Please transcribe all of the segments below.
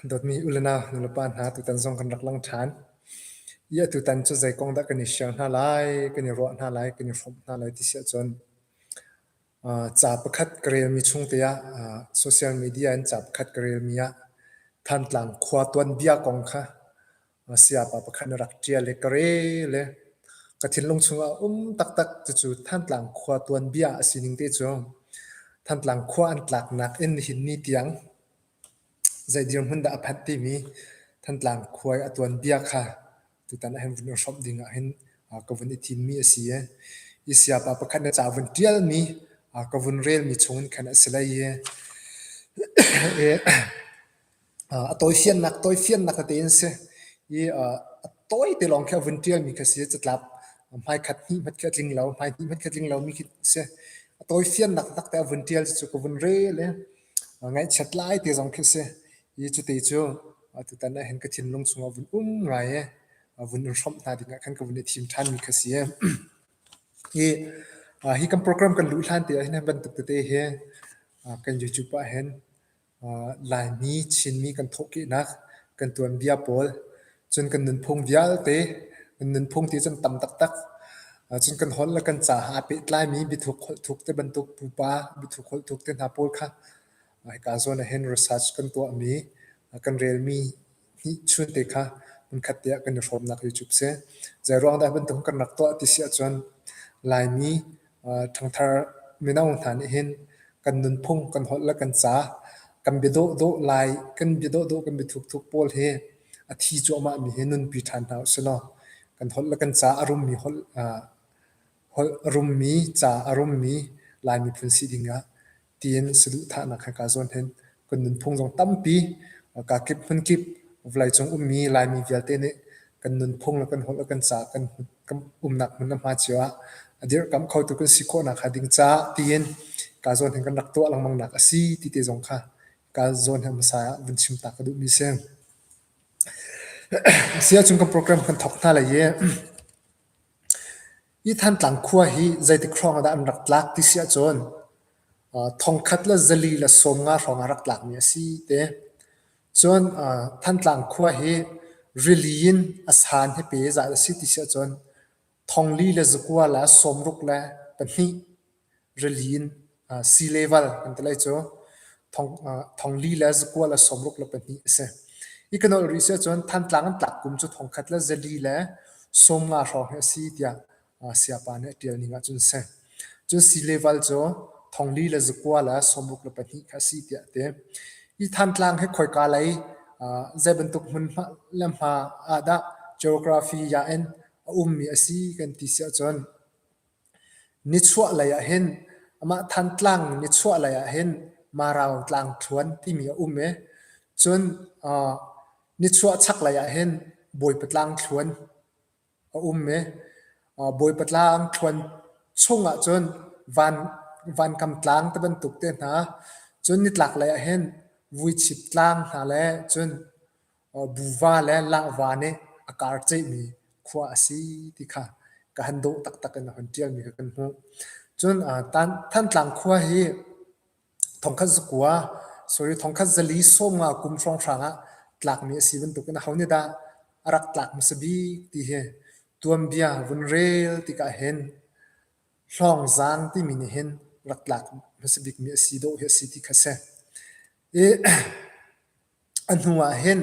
Dawtmi u le nau, nulepa hna, tutan zong kan rak lang ṭhan. Iah tutan cu zei kong dah kan i share hna lai, kan i ruah hna lai, kan i hrawmh hna lai ti si ahcun ca pakhat ka relmi chung te ah social media in ca pakhat ka relmi ah Thantlang khua tuanbia kong kha a sayapa pakhat na rak ṭial i ka re le ka thinlung chungah um taktak cucu Thantlang khua tuanbia a sining te cu Thantlang khua an tlaknak in nihin ni tiang zei dirhmun dah a phanh timi Thantlang khua i a tuanbia kha tutan ah hin vun i hrawmh ding ah hin ka vun i thimmi a si i i sayapa pakhat na ca vun ṭialmi ka vun relmi chung in khan a si lai i A tawifiannak tawifiannak tete an si i a tawi te lawng khi a vun ṭialmi kha a si i catlap hmaikhat hnihhmat khi a tling lo hmai hnihhmat khi a tling lomi khi a si. A tawifiannak taktak te a vun ṭial cucu ka vun rel i ngaihchiat lai te zong khi a si i cute cu tutan ah hin ka thinlung chungah a vun um ngai i a vun in hrawmh hna dingah khan ka vun i thim ṭhanmi kha a si. Hi hi kan program kan luh hlan te ah hin hi bantuk tete hi kan YouTube ah hin Laimi Chinmi kan thawhkehnak kan tuanbia pawl cun kan nunphung vialte, kan nunphung ti cun tam taktak. Cun kan holh le kan ca ha aa pehtlaimi biathuk holhthuk te bantuk pupa biathuk holhthuk te hna pawl kha hika zawn ah hin research kan tuahmi, kan relmi Chunte kha hmunkhatte ah kan i hrawmnak hi cu a si. Zeiruang dah bantuk kan rak tuah ti si ahcun Laimi ṭhangthar mino hna nih hin kan nunphung, kan holh le kan ca kan bia dawhdawh lai, kan bia dawhdawh, kan bia thukthuk pawl hi a thi cuahmahmi hi nunpi ṭhan hna usih law kan holh le kan ca a rummi holh a rummi ca a rummi Lai miphun si ding ah tiin saduhthahnak he kaa zuan hen. Kan nunphung zong tampi kaa kip hmun kip vawleicung ummi Laimi vialte nih kan nunphung le kan holh le kan ca kan kan umnak hmun le hma cio ah a dirhkamh khotu kan si khawhnak hnga ding caah tiin kaa zawn hin kan rak tuah lengmangnak a si ti te zong kha kaa zawn he hmasa ah vun chim ta ka duhmi si. Sia chung kan program kan thok hna lai i Hi Thantlang khua hi zeitik hrawng ah dah an rak tlak ti si ahcun thongkhat le zali le sawm nga hrawng ah rak tlakmi a si te. Cun Thantlang khua hi rili in a san he pe zat a si ti si ahcun thongli le zakua le sawmruk le pahnih rili in sileval kan ti lai cu. Thong li le zakual a sawmruk le pahnih a si. Hi kan holh rih si ahcun Thantlang an tlak kum cu thongkhat le zali le sawmnga hrawng hi a si tiah sayapa nih a ṭial ning ahcun a si. Cun sileval cu thong li le zakual a sawmruk le pahnih kha a si tiah a ti. Hi Thantlang hi khoika lei zei bantuk hmun hmanh le hma ah dah geography ya in a ummi a si kan ti si ahcun Nichuahlei ah hin amah Thantlang nichuahlei ah hin Marau Tlangthluan timi a um i cun nichuahchaklei ah hin Bawipa Tlangthluan a um i Bawipa Tlangthluan chungah cun Vankam Tlang ti bantuk te hna cun nitlaklei ah hin Vuichip Tlang hna le cun buva le lahva nih a kar ceihmi khua a si ti kha ka han dawh taktak in a hun ṭialmi kha kan hmuh. Cun Thantlang khua hi thongkhat zakua, sorry, thongkhat zali sawmnga kum hrawnghrang ah tlakmi a si bantukin aho nih dah a rak tlak hmasa bik ti hi tuanbia vun rel tikah hin Hlawngzang timi nih hin rak tlak hmasa bikmi a si dawh hi a si ti kha a si. I A hnu ah hin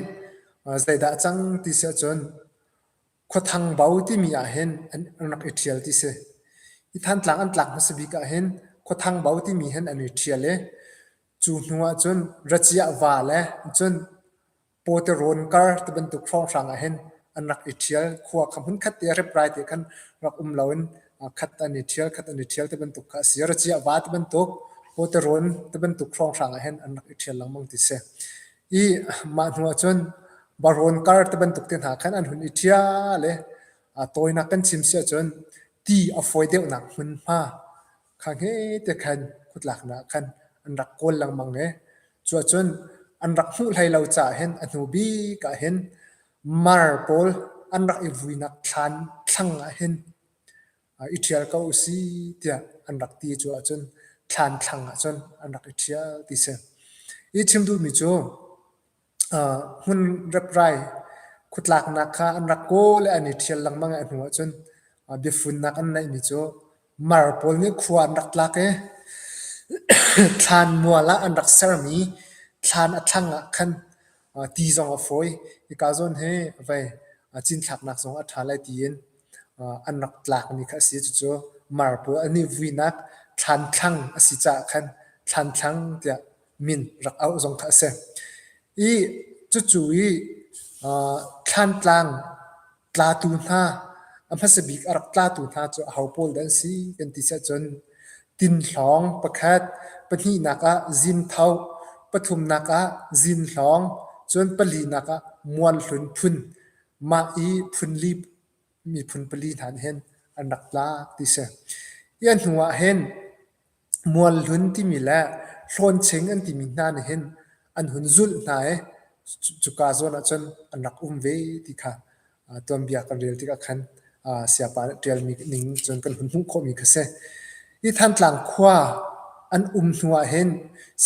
zeidah a cang ti si ahcun Khuathang Bo timi ah hin an rak i ṭhial ti si. Hi Thantlang an tlak hmasa bik ah hin Khuathang Bo timi hin an i ṭhial i cu hnu ahcun Raciah Va le cun Pawtirawn kar ti bantuk hrawnghrang ah hin an rak i ṭhial. Khua kha hmunkhat te ah riprai te khan rak um lo in khat an i ṭhial, khat an i ṭhial tibantuk kha a si. Ro ciah va tibantuk, hawterun tibantuk hrawnghrang ah hin an rak i ṭhial lengmang ti si. I mah hnu ahcun barawn kar tibantuk te hna khan an hun i ṭhial i a tawinak kan chim si ahcun ti a fawi deuhnak hmunhma kha ngete khan khutlaknak ah khan an rak kawl lengmang i cuahcun an rak hmuh hlei lo caah hin a hnu bik ah hin Mar pawl an rak i vuinak thlan thlang ah hin i ṭhial ko u si tiah an rak ti cu ahcun thlan thlang ah cun an rak i ṭhial ti si. Hi chim duhmi cu hmun reprai khutlaknak kha an rak kaw le an i ṭhial lengmang i a hnu ahcun biafunnak an neihmi cu Mar pawl nih khua an rak tlak i thlan mual ah an rak sermi thlan a thlang ah khan ti zong a fawi. Hika zawn hi vei cinthlaknak zong a ṭha lai tiin an rak tlakmi kha a si. Cucu mar pawl an i vuinak thlan thlang a si caah khan thlan thlang tiah min rak auh zong kha a si. I cucu i thlan tlang tlatu hna, a hmasa bik a rak tlatu hna cu aho pawl dah an si kan ti siah cun tinhlawng pakhat, pahnihnak ah zintho, pathumnak ah zinhlawng, cun palinak ah mualhlun phun, mah i phunli miphun pali hna nih hin an rak tlak ti si. Hi a hnu ah hin Mualhlun timi le Hlawncheng an timi hna nih hin an hun zulh hna i cuka zawn ahcun an rak um ve ti kha tuanbia kan rel tikah khan Siapa nih ṭialmi ning cun kan hun hmuh khawhmi kha a si. Hi Thantlang khua an um hnu ahhin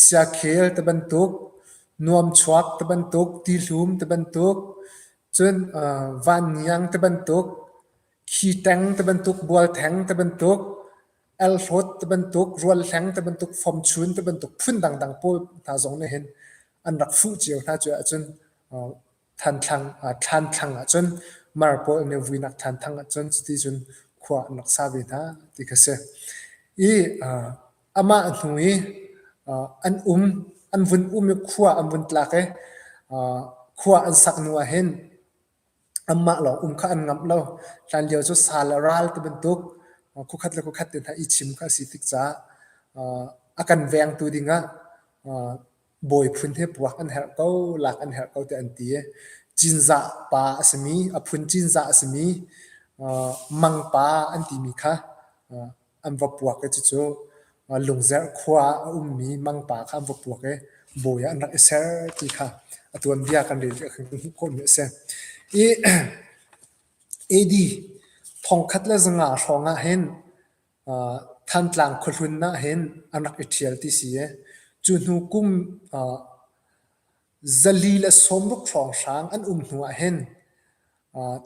siakhel ti bantuk, nuamchuak ti bantuk, tihlum ti bantuk, cun vanniang ti bantuk, khi ṭeng ti bantuk, bualtheng ti bantuk, Elfawt ti bantuk, rual hleng ti bantuk, fawmchun ti bantuk phun dangdang pawl hna zong nih hin an rak fuh cio hna cu ahcun thanthlang thlanthlang ahcun mar pawl an i vuinak thanthang ahcun cuti cun khua an rak sa ve hna ti kha si. I amah hnu i an um an vun um i khua an vun tlak i khua an sak hnu ah hin Amah lawng um kha an ngamh lo. Hlanlio cu sa le ral ti bantuk khuakhat le khuakhat te hna i chim kha a si tik caah a kan vengtu dingah bawi phun he puak an herh ko, lak an herh ko tiah an ti i Cinzah pa a simi, a phun Cinzah a simi Mang pa an timi kha an va puak i cucu Lungzerh khua ah a ummi mangpa kha an va puak i bawi ah an rak i ser ti kha a tuanbia kan rel ve kan hmuh khawhmi a si. I AD thongkhat le zanga hrawngah hin Thantlang khuahlun ah hin an rak i ṭhial ti si i cu hnu kum zali le sawmruk hrawng hrang an um hnu ah hin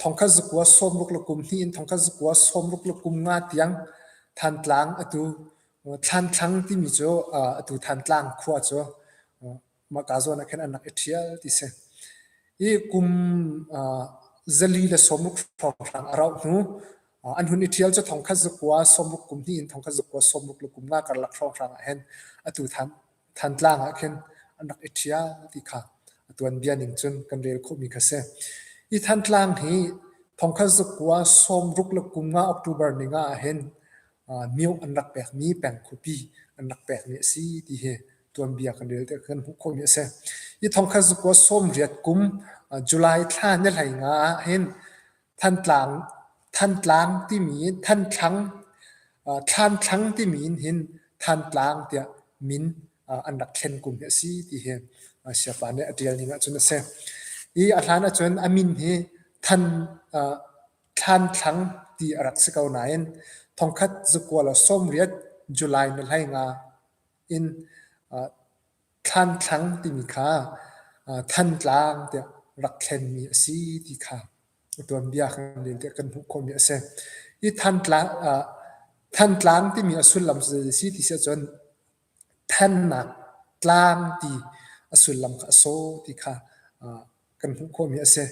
Thongkhat zakua sawmruk le kum hnih in thongkhat zakua sawmruk le kum nga tiang Thantlang atu Thlanthlang timi cu atu Thantlang khua cu mahka zawn ah khin an rak i ṭhial ti si. I kum zali le sawmruk hrawnghrang a rauh hnu an hun i ṭhial cu thongkhat zakua sawmruk kum hnih in thongkhat zakua sawmruk le kum nga karlak hrawnghrang ah hin atu Thantlang ah khin an rak i ṭhia ti kha a tuanbia ning cun kan rel khawhmi kha si. Hi Thantlang hi thongkhat zuk kua sawmruk le kum nga October ni nga ahhin mioh an rak pekmi peng khuapi an rak pekmi a si ti hi tuanbia kan rel tikah kan hmuh khawhmi a si. Hi thongkhat zukua sawmriat kum July thla ni hlei nga ahhin Thantlang timi Thantlang, Thlanthlang timi in hin Thantlang tiah min an rak thlen kum hi a si ti hi siafa nih a ṭial ning ahcun a si. Hi a hlan ahcun a min hi Thlanthlang ti a rak si ko nain thongkhat zukual sawmriat July ni hlai nga in Thlanthlang timi kha Thantlang tiah rak thlenmi a si ti kha a tuanbia kan rel tiah kan hmuh khawhmi a si. Hi Thantlang, Thantlang timi a sullam cu zeidah a si ti si ahcun thannak tlang ti a sullam kha a so ti kha kan hmuh khawhmi a si.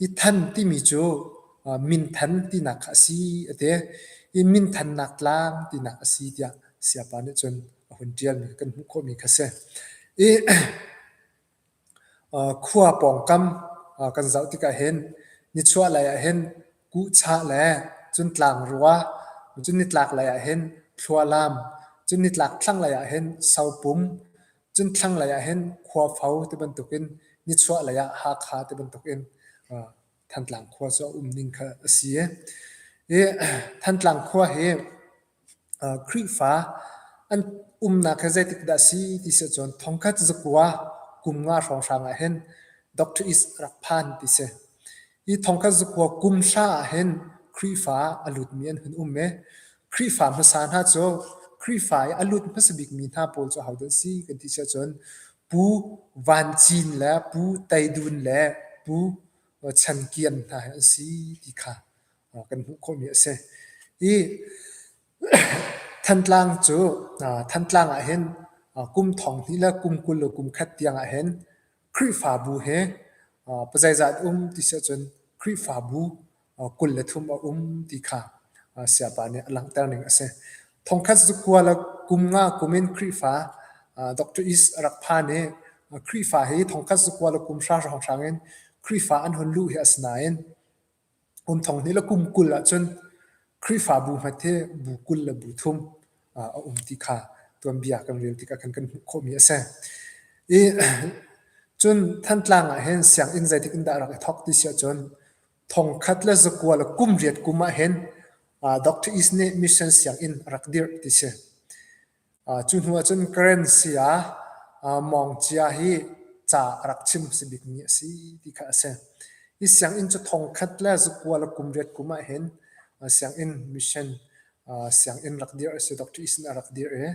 I than timi cu minthan tinak kha a si a ti. I minthannak tlang tinak a si tiah Siapa nih cun a hun tialmi kan hmuh khawhmi kha si. I khua pawngkam kan zoh tikah hin nichuah lei ah hin kuhchah le cun tlangrua, cun nitlak lei ah hin thlualam, cun nitlak thlang lei ah hin sopum, Cun thlanglei ah hin khuafo ti bantukin nichuahlei ah Hakha ti bantukin Thantlang khua cu a um ning kha a si i hi Thantlang khua hi Khrihfa an umnak hi zeitik dah a si ti si ahcun thongkhat zakua kum nga hrawnghrang ah hin Doctor Is a rak phan ti si. Hi thong kan zakua kum hra ahhin Khrihfa a lutmi an hun um i Khrihfa hmasa hna cu Khrihfa i a lut hmasa bikmi hna pawl cu ahodah an si kan ti siahcun Pu Van Cin le Pu Tei Dun le Pu Chan Kiam hna hi an si ti kha kan hmuh khawhmi a si. Hi Thantlang cu Thantlang ah hin kum thong hnih le kum kul le kum khat tiangah hin Khrihfabu he pazeizat um ti si ahcun Khrihfabu kul le thum a um ti kha Siapa nih a langhter ning a si. Thongkhat cu kua le kum nga kum in Khrihfa Doctor East a rak phan i Khrihfa hi thongkhat cu kua le kum hra hrawnghrang in Khrihfa an hun luh hi a si nain Um Thawng nih le kum kul ahcun Khrihfabu hngat hi bu kul le bu thum a um ti kha tuanbia kan rel tikah khan kan hmuh khawhmi a si. I cun Thantlang ah hin sianginn zeitik in dah rak i thawk ti si ahcun thongkhat le zakua le kum riat kum ah hin Doctor East nih mission sianginn a rak dirh ti si. Cu hnu ahcun currency ah mawngcia hi ca a rak chim a si bikmi a si ti kha a si. Hi sianginn cu thongkhat le zukua le kum riat kum ah hin sianginn mission sianginn rak dirh a si. Dr. Eason a rak dirh i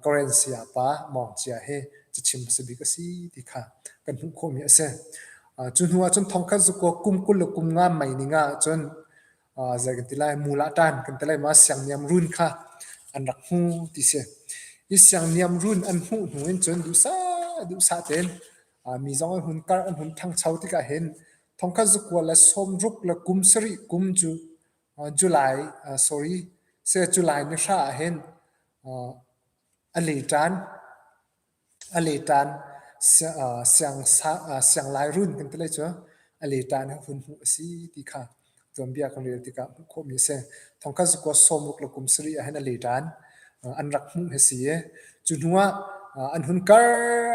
currency ah pa mawngcia hi ca chim a si bik a si ti kha kan hmuh khawhmi a si. Cu hnu ahcun thongkhat zukua kum kul le kum nga mei ning ahcun zei kan ti lai mul ah ṭan kan ti lai ma siangniam run kha an rak hmu ti si. I siangniam run an hmuh hnu in cun duhsah duhsah tein mi zong an hun karh an hun ṭhangcho tikah hin thongkhat zakual le sawmruk le kum sarih kum cu July sorry se July ni hra ah hin a le ṭan. A leṭan sianglai-run kan ti lai cu a leṭan he hun hmuh a si ti kha tuanbia kan rel tikah hmuh khawhmi a si. Thongkhat zakua sawmruk le kum sarih ah hin a leṭan an rak hmuh hi a si i cu hnuah an hun kar,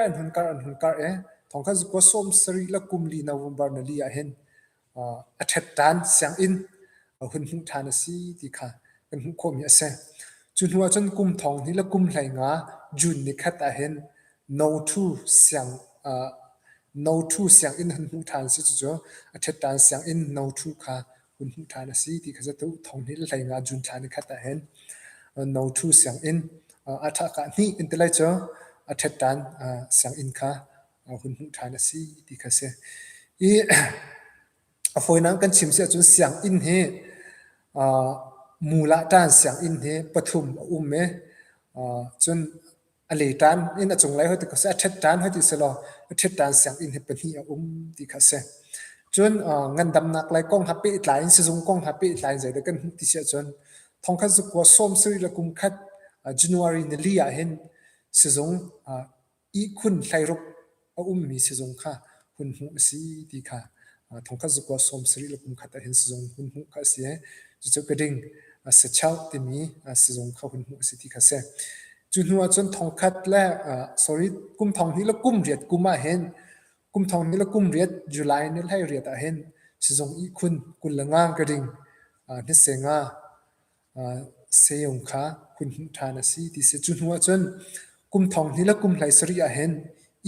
an hun kar, an hun kar i thongkhat zakua sawm sarih le kum li november nali ah hin a ṭhet ṭhan, sianginn a hun hmuh ṭhan a si ti kha kan hmuh khawhmi a si. Cu hnu ahcun kum thong hnih le kum hlei nga June ni khat ahhin No Thu siang No Thu sianginn hun hmuh ṭhan a si. Cucu a ṭhet ṭhan sianginn No Thu kha hun hmuh ṭhan a si ti kha cu thong hnih le hlei nga June thla ni khat ahhin No Thu sianginn a ṭhakah hnih in ti lai cu a ṭhet ṭhan sianginn kha a hun hmuh ṭhan a si ti kha a si. I a fawinak kan chim si ahcun sianginn hi uh, mula ṭan sianginn hi pathum a um e. Uh, cun a le ṭan in a cunglei hoi ti kha si, a ṭhet ṭan hoi ti si lo, a ṭhet ṭan sianginn hi pahnih a um ti kha si. Cun uh, ngandamnak lei kong ha pehtlai in sizung kong ha pehtlai in zeidah kan hmuh ti si ahcun thongkhat zukua sawm sari le kum khat uh, January ni li ah hin sizung uh, ihkhun hleiruk a ummi sizung kha hun hmuh a si ti kha thongkhat zukua sawm sarih le kumkhat ah hin sizung hun hmuh kha a si i cucu keding sachauk timi sizung kha hun hmuh a si ti kha a si cu hnu ah cun thongkhat le sorry kum thong hnih le kum riat kum ah hin kum thong hnih le kum riat July ni hlei riat ah hin sizung ihkhun kul le ngang keding hnisenga Seyung kha hun hmuh ṭhan a si ti a si. Cu hnuah cun kum thong hnih le kum hlai sarih ahhin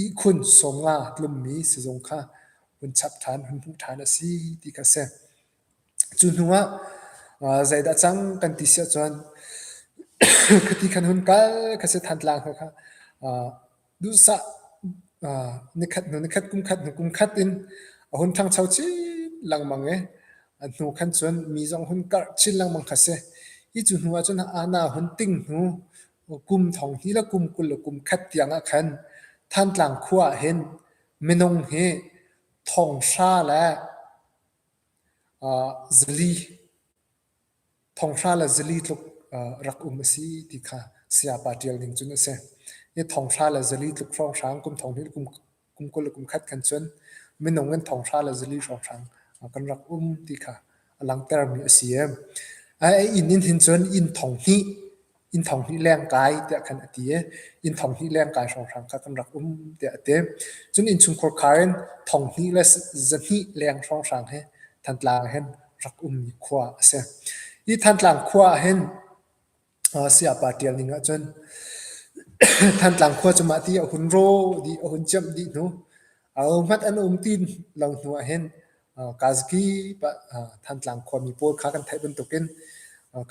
ihkhun sawmnga tlummi sizung kha hun chap ṭhan, hun hmuh ṭhan a si ti kha a si. Cu hnuah zeidah cang kan ti si ahcun khiti khan hun kal ka si than tlang kha kha duhsah nikhat hnu nikhat, kumkhat hnu kumkhat in a hun ṭhangcho chin lengmang i a hnu khan cun mi zong hun karh chin lengmang kha si. Hi cu hnu ahcun Anna hun ting hnu kum thong hnih le kum kul le kum khat tiang ah khan Thantlang khua ah hin minung hi thonghra le zali Thonghra le zili tluk rak um a si ti kha sayapa ṭial ning cun a si. Hi thonghra le zili tluk hrawnghrang kum thong hnih le kum kul le kum khat khan cun minung in thonghra le zili hrawnghrang kan rak um ti kha a langhtermi a si. A inn in hin cun inn thong hnih inn thong hnih leng kai tiah khan a ti i inn thong hnih leng kai hrawnghrang kha kan rak um tiah a ti. Cun innchungkhar khar in thong hnih le zahnih leng hrawnghrang he Thantlang ah hin rak ummi khua a si. Hi Thantlang khua ah hin sayapa ṭial ning ahcun Thantlang khua cu mah ti a hun rawh dih, a hun ciamh dih hnu Ahohmanh an um ti lo hnu ah hin Kazki pa Thantlang khuami pawl kha kan theih bantukin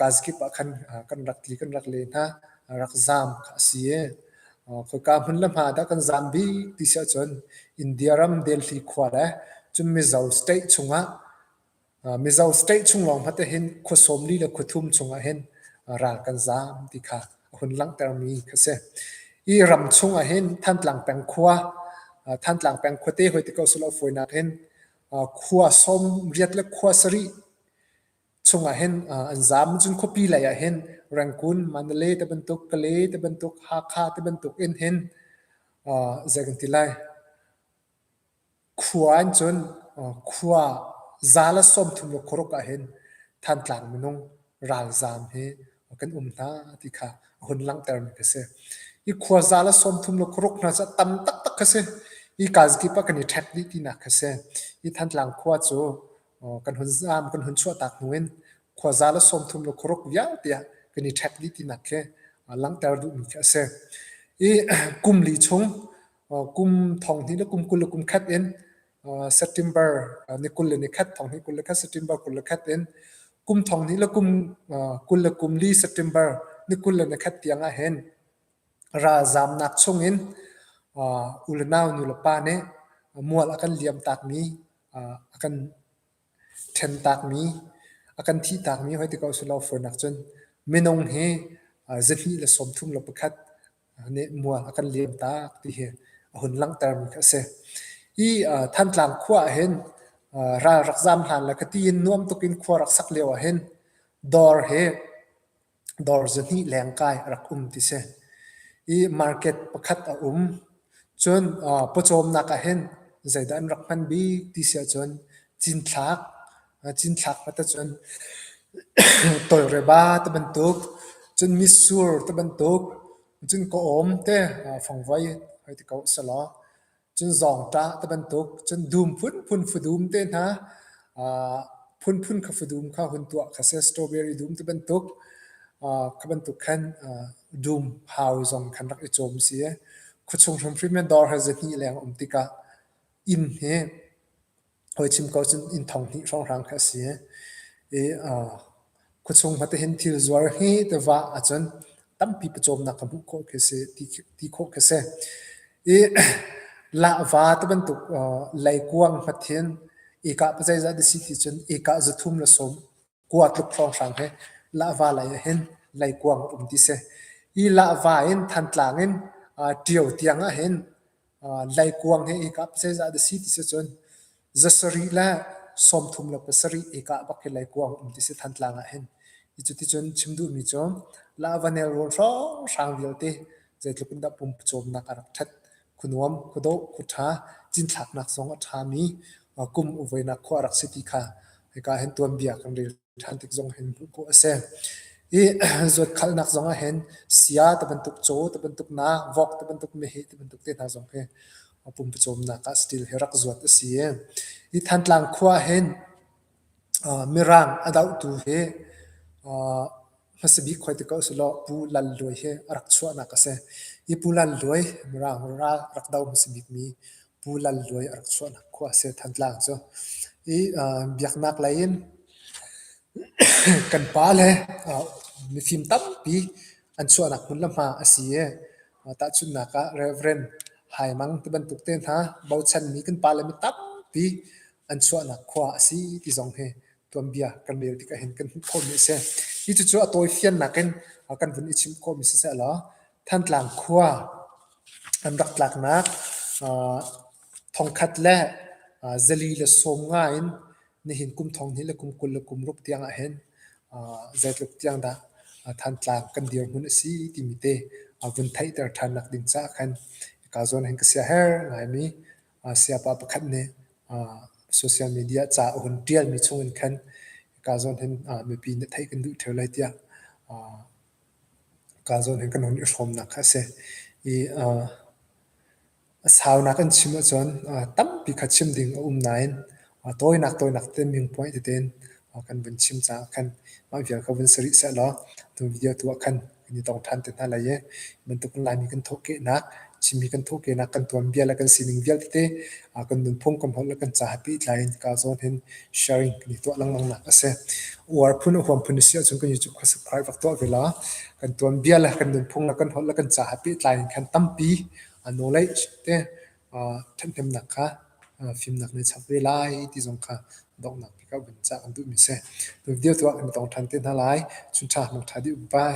Kazki pa khan kan rak tli kan rak le hna rak zaam kha a si i khoika hmun le hma dah kan zaam bi ti si ahcun India ram Delhi khua le cun Mizo state chungah Mizo state chung lawng hmanh ah hin khua sawm li le khua thum chungah hin ral kan zaam ti kha a hun langhtermi kha a si. Hi ram chungah hin Thantlang peng khua, Thantlang peng khua te hoi te ko seh law fawinak hin khua sawm riat le khua sarih chungah hin an zaam. Cun khuapi lei ah hin Rangoon, Mandalay te bantuk, Kalay te bantuk, Hakha te bantuk in hin zei kan ti lai, Khua an cuanh, khua za le sawmthum le khuaruk ahhin Thantlang minung ralzaam hi kan um hna ti kha a hun langhtermi ka si. Hi khua za le sawmthum le khuaruk hna cu a tam taktak kha si. Hi kazi kip ah kan i ṭhek dih tinak kha si. Hi Thantlang khua cu kan hun zaam, kan hun chuahtak hnu in khua za le sawmthum le khuaruk vialte ah kan i ṭhek dih tinak khi langhter duhmi khi a si. Hi kum li chung kum thong hnih le kum kul le kum khat in September ni kul le ni khat thong hnih kul le khat September kul le khat in kum thong hnih le kum kul le kum li September ni kul le ni khat tiang ah hin ralzaam nak chung in u le nau nu le pa nih mual a kan liam tak mi a kan ṭhentakmi, a kan thihtakmi hoi ti ko a si lo fur nak cun minung hi zahnih le sawmthum le pakhat nehnmual a kan liam tak ti hi a hun langhtermi kha a si. Hi Thantlang khua ahhin ral rak zaam hlan le kati in nuam tuk in khua rak sak lio ahhin dawr hi Dawr zahnih leng kai a rak um ti si. I market pakhat a um. Cun aa pawcawmnak ahhin zeidah an rak hman bik ti si ahcun cinthlak, cinthlak vat ahcun tawlreba te bantuk, cun mitsur te bantuk, cun ka-awm te fangvoi hoi ti ko selaw. Cun zong ṭah ti bantuk cun dum phunphun fudum te hna uh, phunphun kha fudum kha hun tuah kha si strawberry dum ti bantuk uh, kha bantuk khan uh, dum hau zong khan rak i cawm si khuachung hrimhrim in dawr he zahnih leng um tikah inn hi hawi chim ko cun inn thong hnih hrawnghrang kha a si i khuachung hmate hin thil zuar he te vah ahcun tampi pawcawmnak ka hmuh khawh khi a si ti khawh khi a si i lahva ti bantuk leikuang hmathin ika pazeizah dasi ti cun ika zathum le sawm Kua tluk hrawnghrang he lahva lei ah hin leikuang a um ti si. Hi lahva in Thantlang in Ṭio tiang ah hin leikuang he i kap zeizah dah si ti si cun zasarih le sawmthum le pasarih i kah bak hi leikuang um ti si Thantlang ah hin. Hi cu ticun chim duhmi cu lahva nelrawn hrawnghrang vialte zeitluk in dah pum pawcawmnak a rak ṭhat. khuanuam, khuadawh, khuṭha, cinthlaknak zong a ṭhami kum uvuinak khua a rak si ti kha hika hin tuanbia kan rel ṭhan tik zong hin hmuh khawh a si. I zuatkhalnak zong ah hin sia ti bantuk, caw ti bantuk, nak, vok ti bantuk, meheh ti bantuk te hna zong hi pumpucawmnak ah stil hi rak zuat a si. I Thantlang khua hin Mirang a dohtu hi hmasa bik hoi ti ko si law Pu Lal Luai hi a rak chuahnak a si. Hi Pu Lal Luai Mirang ral rak do hmasa bikmi Pu Lal Luai a rak chuahnak khua a si Thantlang cu. Hi biaknak lei in kan pa le mifim tampi an chuahnak hmun le hma a si i tahchunhnak ah Rev. Hai Mang ti bantuk te hna bochanmi kan pa le mi tampi an chuahnak khua a si ti zong hi tuanbia kan rel tik ahhin kan hmuh khomi a si. Hi cucu a tawifiannak in kan vun i chim khawhmi siseh law Thantlang khua an rak tlaknak thongkhat le zali le sawm nga in nihin kum thong hnih le kum kul le kum ruk tiang ahhin zeitluk tiang dah Thantlang kan dirhmun a si timi te vun theihter ṭhannak ding caah khan ka zawn hin ka sia her ngaimi sayapa pakhat nih social media ca a hun ṭialmi chungin khan kaa zawn hin mipi nih theih kan duh ṭheo lai tiah kaa zawn hin kan hun i hrawmnak kha a si. I a saunak an chim ahcun tampi kha chim ding a um nain A tawinak tawinak te viewpoint teten kan vun chim caah khan mah vial kha vun si rih sehlaw tu video tu ah khan kan i tong ṭhan te hna lai i bantukin Laimi kan thawhkehnak, Chinmi kan thawhkehnak, kan tuanbia le kan sining vialte kan nunphung kan holh le kan ca hapi tlai in ka zawn hin sharing kan i tuah lengmang nak a si. Uar phun huam phun si ahcun kan YouTube kha subscribe vak tuah ve la. Kan tuanbia le kan nunphung le kan holh le kan ca hapi tlai in khan tampi a knowledge te ṭhathnemnak kha fimnak nih a chap ve lai ti zong kha donghnak bik ah vun cah kan duhmi a si. Video tu ah kan i tong ṭhan te hna lai. Chun ṭha, nung ṭha dih um pai.